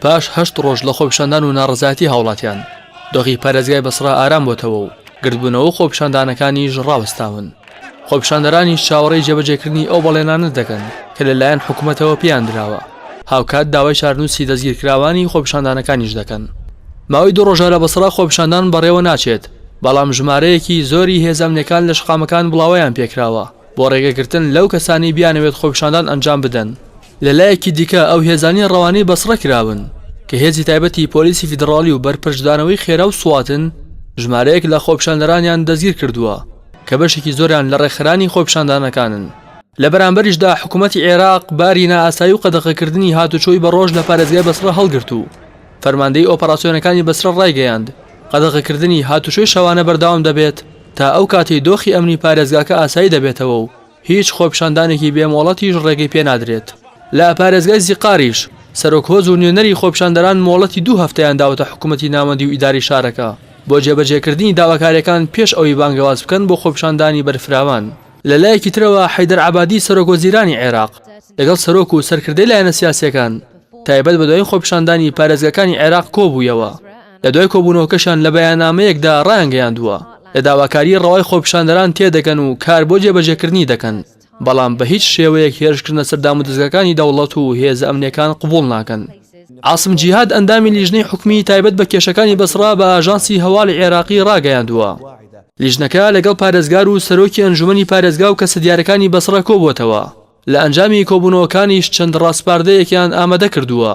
پاش هەشت ڕۆژ لە خۆپیشاندان و ناڕزایەتی هاوڵاتیان دۆخی پارێزگای بەسڕا ئارام بۆتەوە و گردبوونەوە خۆپیشاندانەکانیش ڕاوەستاون خۆپیشاندەرانیش چاوەڕێی جێبەجێکردنی ئەو بەڵێنانە دەکەن کە لەلایەن حکوومەتەوە پێیان دراوە هاوکات داوای چارنووسی دەستگیرکراوانی خۆپیشاندانەکانیش دەکەن ماوەی دوو ڕۆژە لە بەسڕا خۆپیشاندان بەڕێوە ناچێت بەڵام ژمارەیەکی زۆری هێزەمنەکان لە شقامەکان بڵاوەیان پێکراوە بۆ ڕێگەگرتن لەو کەسانی بیانەوێت خۆپیشاندان ئەنجام بدەن لە لایەکی دیکە ئەو هێزانەی ڕەوانەی بەسڕە کراون کە هێزی تایبەتی پۆلیسی فیدڕاڵی و بەرپەرچدانەوەی خێرا و سواتن ژمارەیەک لە خۆپیشاندەرانیان دەستگیر کردووە کە بەشێکی زۆریان لە ڕێکخەرانی خۆپیشاندانەکانن. لە بەرامبەریشدا حکوومەتی عێراق باری نائاسایی و قەدەغەکردنی هاتوچۆی بە ڕۆژ لە پارێزگای بەسڕە هەڵگرت و فەرماندەیی ئۆپەراسیۆنەکانی بەسرە ڕایگەیاند قەدەغەکردنی هاتوچۆی شەوانە بەردەوام دەبێت تا ئەو کاتەی دۆخی ئەمنی پارێزگاکە ئاسایی دەبێتەوە و هیچ خۆپیشاندانێکی بێ مۆڵەتیش ڕێگەی پێ نادرێت. لە پارێزگای زیقاریش، سەرۆک هۆز و نوێنەری خۆپیشاندەران مۆڵەتی دوو هەفتەیان داوەتە حکوومەتی ناوەندی و ئیدارەی شارەکە، بۆ جێبەجێکردنی داواکارییەکان پێش ئەوەی بانگەواز بکەن بۆ خۆپیشاندانی بەرفراوان. لە لایەکی ترەوە، حەیدەر عەبادی سەرۆک وەزیرانی عێراق، لەگەڵ سەرۆک و سەرکردەی لایەنە سیاسییەکان، تایبەت بە دوایین خۆپیشاندانی پارێزگاکانی عێراق کۆبوویەوە. لە دوای کۆبوونەوەکەشیان لە بەیاننامەیەکدا ڕایانگەیاندووە، لە داواکاریی ڕەوای خۆپیشاندەران تێدەگەن و کار بۆ جێبەجێکردنی دەکەن، بەڵام بە هیچ شێوەیەک هێرشکردنە سەر دامودەزگاکانی دەوڵەت و هێزە ئەمنییەکان قبوڵ ناکەن. عاسم جیهاد ئەندامی لیژنەی حکومیی تایبەت بە کێشەکانی بەسڕا بە ئاژانسی هەواڵی عێراقی ڕاگەیاندووە، لیژنەکە لەگەڵ پارێزگار و سەرۆکی ئەنجوومەنی پارێزگا و کەسە دیارەکانی بەسڕە کۆبووەتەوە، لە ئەنجامی کۆبوونەوەکانیش چەند ڕاسپاردەیەکیان ئامادە کردووە.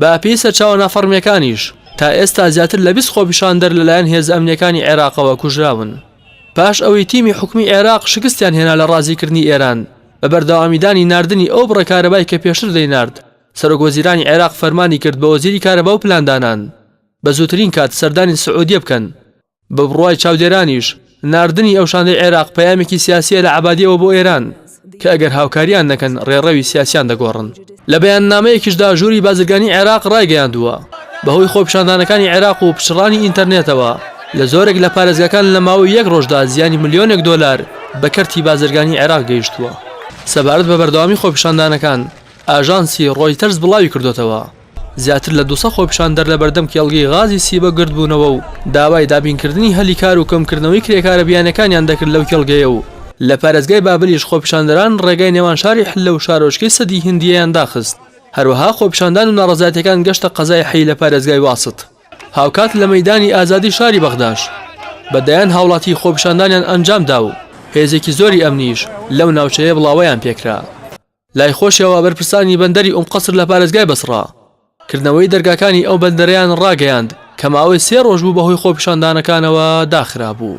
بە پێی سەرچاوە نافەڕمییەکانیش، تا ئێستا زیاتر لە بیست خۆپیشاندەر لەلایەن هێزە ئەمنییەکانی عێراقەوە کوژراون، پاش ئەوەی تیمی حکومی عێراق شکستیان هێنا لە ڕازیکردنی ئێران بە بەردەوامیدانی ناردنی ئەو بڕە کارەبای کە پێشتر دەینارد، سەرۆکوەزیرانی عێراق فەرمانی کرد بە وەزیری کارەبا و پلاندانان بە زووترین کات سەردانی سعودیە بکەن. بە بڕوای چاودێرانیش ناردنی ئەو شاندەی عێراق پەیامێکی سیاسییە لە عەبادییەوە بۆ ئێران کە ئەگەر هاوکارییان نەکەن ڕێڕەوی سیاسییان دەگۆڕن. لە بەیاننامەیەکیشدا ژووری بازرگانی عێراق ڕایگەیاندووە، بەهۆی خۆپیشاندانەکانی عێراق و پچڕانی ئینتەرنێتەوە لە زۆرێک لە پارێزگاکان لە ماوەی یەک ڕۆژدا زیانی ملیۆنێک دۆلار بە کەرتی بازرگانی عێراق گەیشتووە. سەبارەت بە بەردەوامی خۆپیشاندانەکان ئاژانسی ڕۆیتەرز بڵاویکردۆتەوە، زیاتر لە دوو سەد خۆپیشاندەر لەبەردەم کێڵگەی غازی سیبە گردبوونەوە و داوای دابینکردنی هەلی کار و کەمکردنەوەی کرێکارە بیانیەکانیان دەکرد لەو کێڵگەیە و لە پارێزگای بابلیش خۆپیشاندەران ڕێگای نێوان شاری حللە و شارۆچکەی سەدی هندیەیان داخست هەروەها خۆپیشاندان و ناڕەزایەتیەکان گەشتە قەزای حەی لە پارێزگای واسط هاوکات لە مەیدانی ئازادی شاری بەغداش بە دەیان هاوڵاتی خۆپیشاندانیان ئەنجامدا و هێزێکی زۆری ئەمنیش لەو ناوچەیە بڵاوەیان پێکرا. لای خۆشیەوە بەرپرسانی بەندەری ئوم قەسر لە پارێزگای بەسڕە کردنەوەی دەرگاکانی ئەو بەندەرەیان ڕاگەیاند کە ماوەی سێ ڕۆژ بوو بەهۆی خۆپیشاندانەکانەوە داخرابوو.